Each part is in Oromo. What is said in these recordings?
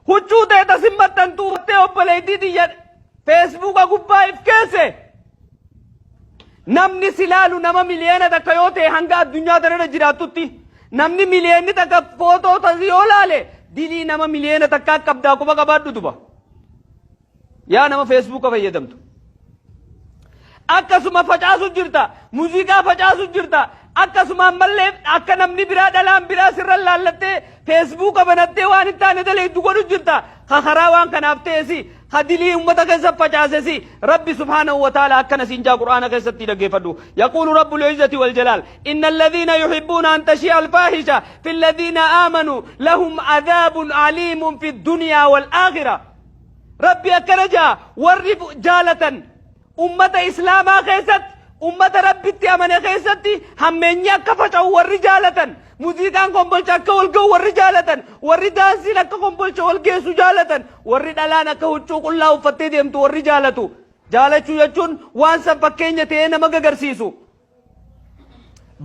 Huccuu teeta sin maxxantu uffattee obboleettii tiyya feesbuuka gubbaa if keesse. Namni si laalu nama miliyoona takka yoo ta'e hanga addunyaa tanarra jiraattutti namni miliyoonni takka footoo tasi yoo laale dilii nama miliyoona takkaa qabdaa quba qabaadhu duba. Yaa nama feesbuuka fayyadamtu. Akkasuma facaasu jirta. Muuziqaa facaasu jirta. Akkasuma ammallee akka namni biraa dhalaan biraa sirra laallattee feesbuuka banattee waan hin taane daleeddu godhu jirta. Ka karaa waan kanaaf ta'esi ka dilii ummata keessa facaasesi rabbi subhaanahu wa ta'ala akkana siin jaa qur'aana keessatti dhaggeeffadhu. Yaquulu rabbul izzati wal jalaal. Inna alladhiina yuhibbuuna an tashia alfaahisha fi alladhiina aamanu lahum adhaabun aliimun fi dunyaa wal aakhirah. Rabbi akkana ja'a warri jaalatan ummata islaamaa keessatti ummata rabbitti amane keessatti hammeenyi akka faca'u warri jaalatan muziiqaan kombolcha akka ol ga'u warri jaalatan warri daansiin akka kombolcha ol geessu jaalatan warri dhalaan akka huccuu qullaa uffattee deemtu warri jaalatu jaalachuu jechuun waan san fakkeenya ta'ee nama gagarsiisu.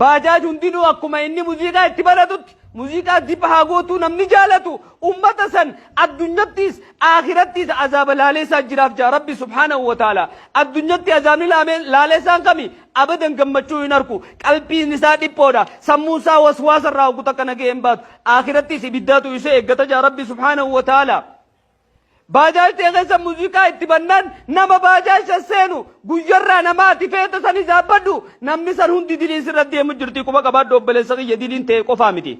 Baajaaj hundinuu akkuma inni muziiqaa itti baratutti muziiqaa zip haa gootuu namni jaalatu ummata san addunyattiis aakirattiis azaaba laaleessaa jiraaf jaa rabbi subhaanahu wa ta'ala addunyatti azaabni laamee- laaleessaan kami abadan gammachuu hin arku qalbiin isaa dhiphoodha sammuun isaa waswaasa irraa hoggu takka nagee hin baatu aakirattiis ibiddaatu isa eeggata jaa rabbi subhaanahu wa ta'ala Baajaajtee keessa muuziqaa itti bannaan nama baajaajsa seenu guyyarraa nama ati feeta san izaabbadhu namni san hundi dilii sirra deemu jirti quba qabaadhu obboleessa kiyya diliin ta'e qofaa miti.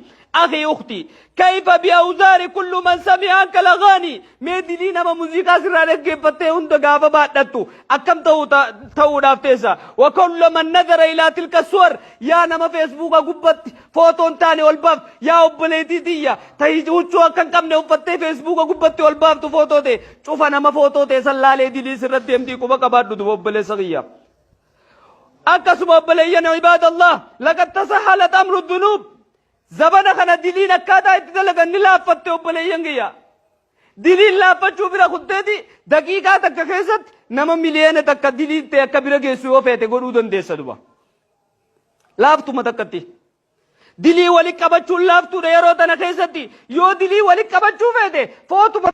Akhi ukti kayfa bi awzaari kullu man sami'a anka lagaani mee dilii nama muuziqaa sirraa dhaggeeffattee hunda gaafa baadhattu akkam ta'u ta'uudhaaf teessa. Wa kullu man nadara ilaa tilka suwar yaa nama feesbuuka gubbatti Footoo hin taane ol baaftu. Yaa obboleetii tiyya tahi huccuu akka hin qabne uffattee feesbuuka gubbatti ol baaftu footoo ta'e. Cufa nama footoo ta'e san laalee dilii sirratti hemtii quba qabaadhu duba obboleessa kiyya. Akkasuma obboleeyyan ibaadallah laqad tasahalat amru dunuub. Zabana kana diliin akkaataa itti dalagan ni laaffatte obboleeyyan kiyya. Diliin laaffachuu bira kutteeti daqiiqaa takka keessatti nama miliyoona takka diliin ta'e akka bira geessu yoo feete godhuu dandeessa duba. laaftuma takkatti. Dilii walitti qabachuun laaftuudha yeroo tana keessatti yoo dilii walitti qabachuu feete footuma